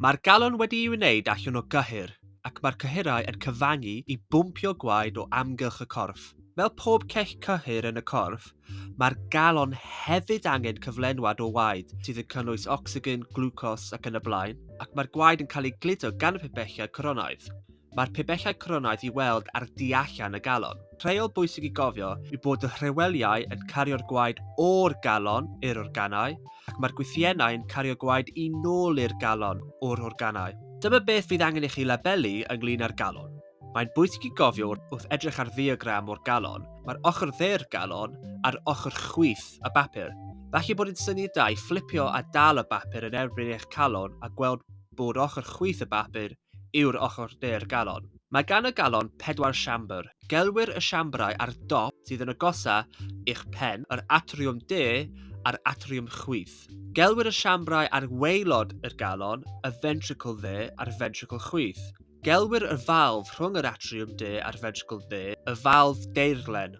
Mae'r galon wedi'i wneud allan o gyhur, ac mae'r cyhyrau yn cyfangu i bwmpio gwaed o amgylch y corff. Fel pob cech cyhur yn y corff, mae'r galon hefyd angen cyflenwad o waed, sydd yn cynnwys ocsigen, glwcos ac yn y blaen, ac mae'r gwaed yn cael ei gludo gan y pibellau coronaidd. Mae'r pibellau coronaidd i weld ar du allan y galon. Rheol bwysig i gofio yw bod y rheweliau yn cario'r gwaed o'r galon i'r organau ac mae'r gwythiennau yn cario gwaed i nôl i'r galon o'r organau. Dyma beth fydd angen i chi labelu ynglŷn â'r galon. Mae'n bwysig i gofio wrth edrych ar ddiagram o'r galon, mae'r ochr dde'r galon a'r ochr chwith y bapur. Falle bod yn syniad da i fflipio a dal y bapur yn erbyn eich calon a gweld bod ochr chwith y bapur yw'r ochr de'r galon. Mae gan y galon pedwar siambr. Gelwir y siambrau ar dop sydd yn agosaf i'ch pen yr atriwm de a'r atriwm chwith. Gelwir y siambrau ar waelod y galon y fentricl dde a'r fentricl chwith. Gelwir y falf rhwng yr atriwm de a'r fentricl dde y falf deirlen.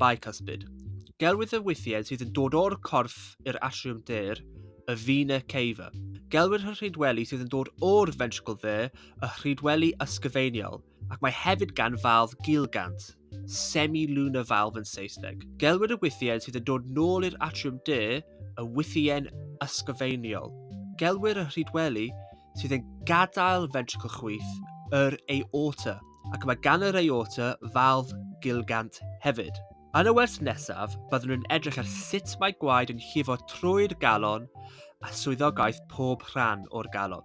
bicuspid. Gelwir y wythied sydd yn dod o'r corff i'r atriwm ddur y vena cava. Gelwir y rhydweli sydd yn dod o'r ventricle dde y rhydweli ysgyfeiniol, ac mae hefyd gan falf gilgant, semi-lunar valve yn Saesneg. Gelwir y wythied sydd yn dod nôl i'r atriwm du y wythien ysgyfeiniol. Gelwir y rhydweli sydd yn gadael ventricle chwith, yr aorta, ac mae gan yr aorta falf gilgant hefyd. Yn y wers nesaf, byddwn yn edrych ar sut mae gwaed yn llifo trwy'r galon a swyddogaeth pob rhan o'r galon.